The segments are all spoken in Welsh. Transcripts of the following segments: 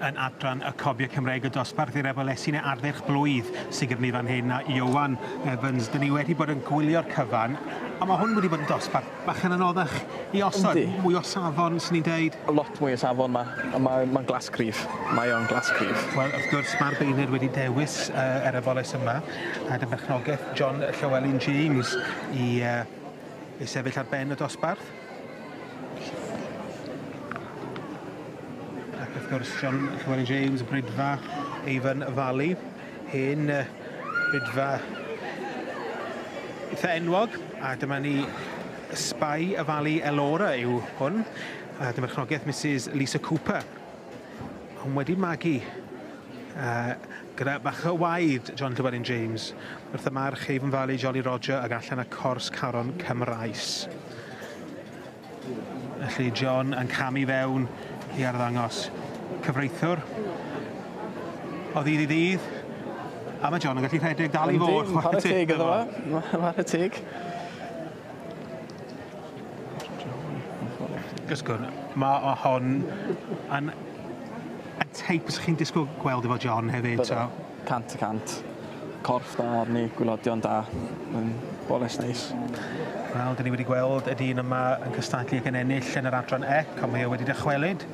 yn adran y cofiau Cymreig y dosbarth i'r efelysu neu ardderch blwydd sy'n gyfnifan hyn a Iwan Evans. Dyn ni wedi bod yn gwylio'r cyfan, a mae hwn wedi bod yn dosbarth Bachan anoddach i osod. Yndi. Mwy o safon swn i'n deud. Lot mwy o safon 'ma a mae mae'n glas cryf. Mae o'n glas cryf. Wel wrth gwrs ma'r beirniad wedi dewis yy yr afoles yma a dy berchnogaeth John Llewelyn James i yy i sefyll ar ben y dosbarth. Ac wrth gwrs John Llewelyn James, Brydfa, Avon Valley. Hen Rydfa eitha enwog, a dyma ni Spy y Fali Elora yw hwn, a dyma chnogaeth Misus Lisa Cooper. Hwn wedi magu uh, gyda bach o waed John Llewellyn James wrth y march Haven Valley Jolly Roger ag allan y cors caron Cymraes. Felly John yn camu fewn i arddangos cyfreithiwr o ddydd i ddydd. A mae John yn gallu rhedeg dal i fod. Yndi, chwarae teg iddo fo. Chwarae teg. Gysgwn, mae o hon yn y teip fysech chi'n disgwyl gweld efo John hefyd. Byddwn. Cant y cant. Corff da arni, gwylodion da. Mae'n boles neis. Wel, dyn ni wedi gweld y dyn yma yn cystadlu ac yn ennill yn yr adran ep, ond mae o wedi dychwelyd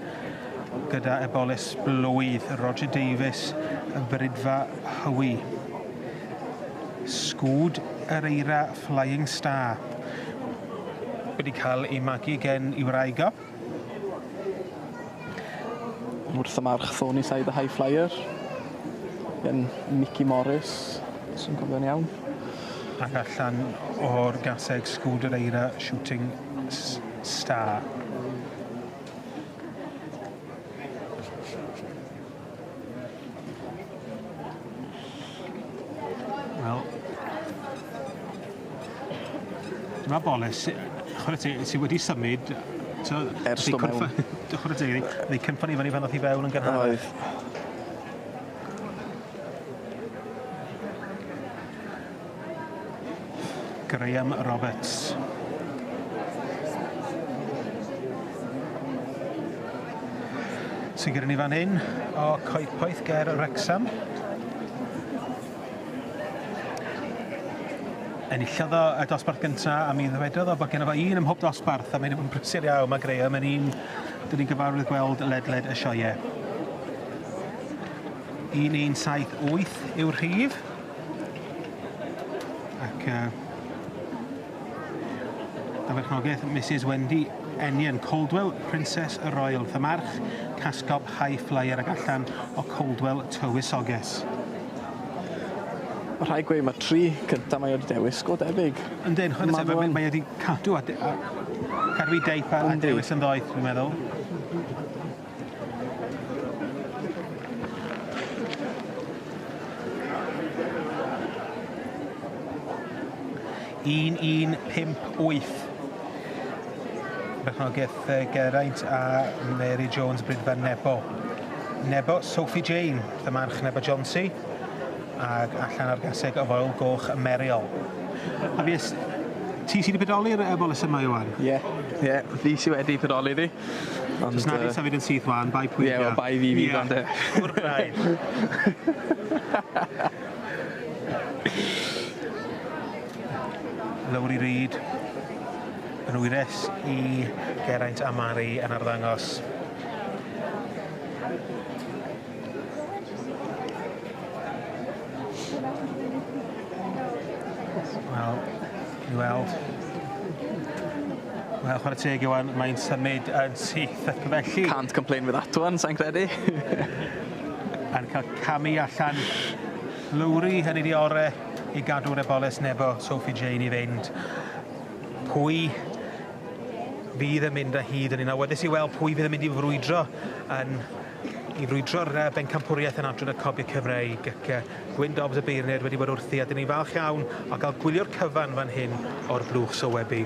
gyda eboles blwydd, Roger Davies, y Brydfa Hywi. Sgwd yr eira Flying Star wedi cael ei magu gen i wraig o. Wrth y march Thorny Side the High Flyer yn Mickey Morris, sy'n gofio'n iawn. Ac allan o'r gaseg Sgwdr Eira Shooting Star. Wel... Dyma Boris. Chware ti, ti wedi symud t'o'... Ers do' mewn. Chware teg iddi. O'dd 'i cynffon 'i fynny pan ddoth i fewn yn gynharach. Oedd. Graham Roberts. Sy'n gyda ni fan hyn o Coedpoeth Ger Wrexham. enillodd o y dosbarth gyntaf a mi ddwedodd o bod gen fo un ym mhob dosbarth a mae'n brysur iawn. Mae Graham yn un dyn ni'n gyfarwydd gweld ledled y sioe. 1178 yw'r rhif. Ac yy a berchnogaeth Misus Wendy Ennion, Coldwell, Princess a Royal, fy march, casgob high flyer ac allan o Coldwell tywysoges. Mae rhaid gweud, mae tri cyntaf mae o 'di dewis go debyg. Yndi, yn chwarae teg, mae o 'di cadw a cadw ei deip a dewis yn ddoeth, dwi'n meddwl. 1158. Bechnogaeth yy Geraint a Mary Jones Brydferth Nebo. Nebo, Sophie Jane, dy march Nebo Jonsi, ac allan ar gaseg y Foel Goch y Meriol. A fues ti sydd wedi pedoli'r yy bolys yma Iwan? Ie, ie, fi sydd wedi pedoli ddi. Ond yy... Do's 'na ddim symud yn syth wan bai pwy 'di o. Ie wel bai fi fydd o ynde? Ie pur braidd. Lowri Reid yn wyres i Geraint a Mari yn arddangos. Wel I weld. Wel, chwarae teg Iwan, mae'n symud yn syth ac felly... Can't complain with that one, sa'n credu. A'n cael camu allan Lowry yn ei di ore i gadw'r eboles nebo Sophie Jane i fynd. Pwy fydd yn mynd â hyd yn un awyddus i weld pwy fydd yn mynd i frwydro yn i frwydro'r uh, bencampwriaeth yn adran y cobiau Cymreig ac uh, Gwyn Dobbs y beirniaid wedi bod wrthi a dyn ni'n falch iawn o gael gwylio'r cyfan fan hyn o'r blwch sowebu.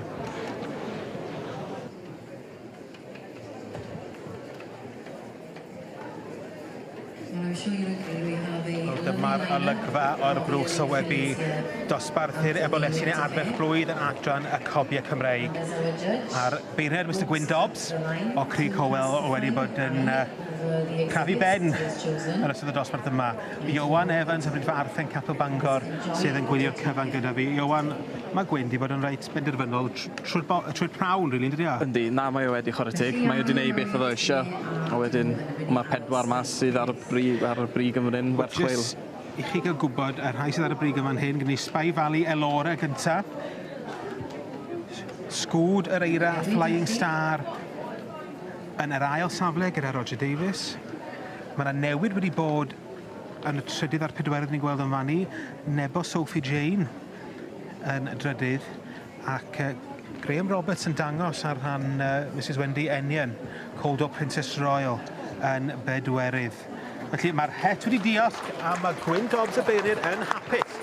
Dyma'r olygfa o'r blwch sowebu dosbarthu'r ebolesi neu arfer blwydd yn adran y cobiau Cymreig a'r Beirniaid Mister Gwyn Dobbs o Crug Howell wedi bod yn uh, crafu ben yn ystod y dosbarth yma. Iowan Evans o Brynfa Arthen Capel Bangor sydd yn gwylio'r cyfan gyda fi. Iowan, mae Gwyn wedi bod yn reit benderfynol trwy'r prawn, rili, really, ynddi? Yndi, na, mae o wedi chwarae teg. Mae o wedi gwneud beth oedd o eisiau. A wedyn, mae pedwar mas sydd ar y brig, ar y brig yn fan werth chweil. I chi gael gwybod, y rhai sydd ar y brig yn fan hyn, gyda ni Spy Valley, Elora gyntaf, Sgwd yr Eira a Flying Star yn yr ail safle gyda Roger Davies. Mae yna newid wedi bod yn y trydydd a'r pedwerydd ni'n gweld yn fan ni. Nebo Sophie Jane yn y drydydd ac uh, Graham Roberts yn dangos ar rhan uh, Mrs Wendy Ennion, Coldor Princess Royal yn bedwerydd. Felly mae'r het wedi diolch a mae Gwyn Dobbs y Beirir yn hapus.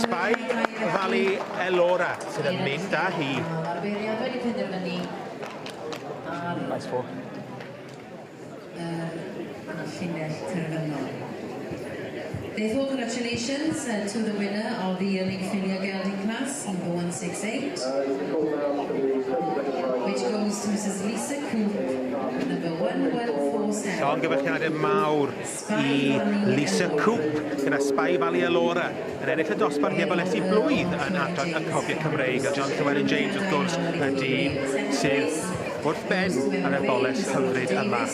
Sbai Fali Elora sydd yn mynd â hi. Mae'r Beiriad wedi penderfynu ar... Nice ball. Yr llinell terfynol. Beth o gratulations to the winner of the Yearling Ffilmio Geldi Class number 168 which goes to Mrs Lisa Coop number 1147. Llongyfarchiadau mawr i Lisa Coop gyda Spy Valley Alora yn ennill y dosbarth heb olesu blwydd yn adran y cofiau Cymreig a John Llewellyn James wrth gwrs y dyn sydd wrth ben ar y boles hyfryd yma.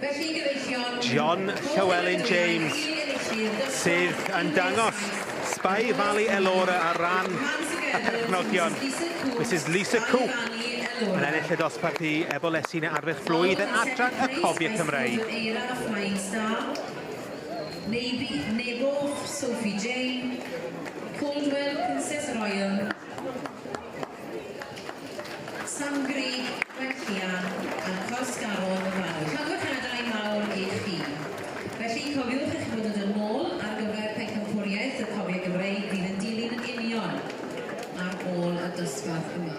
Felly, gyfeillion... John Llewelyn James, sydd yn dangos Spy Valley Elora ar ran y perchnogion. Mrs Lisa Coop yn ennill y dosbarth i Ebolesi neu Arfech Flwydd yn adran y Cofiau Cymreig. Eira a Flying Star, Navy, Nebo, Sophie Jane, Caldwell, Princess Royal, Sam Grug, Gwent Llian a Cors Garol yn fanwl. Rhagor caniadau mawr i chi. Felly, cofiwch eich bod yn dod nôl ar gyfer Pencampwriaeth y Comic Gymreig fydd yn dilyn yn union ar ôl y dosbarth yma.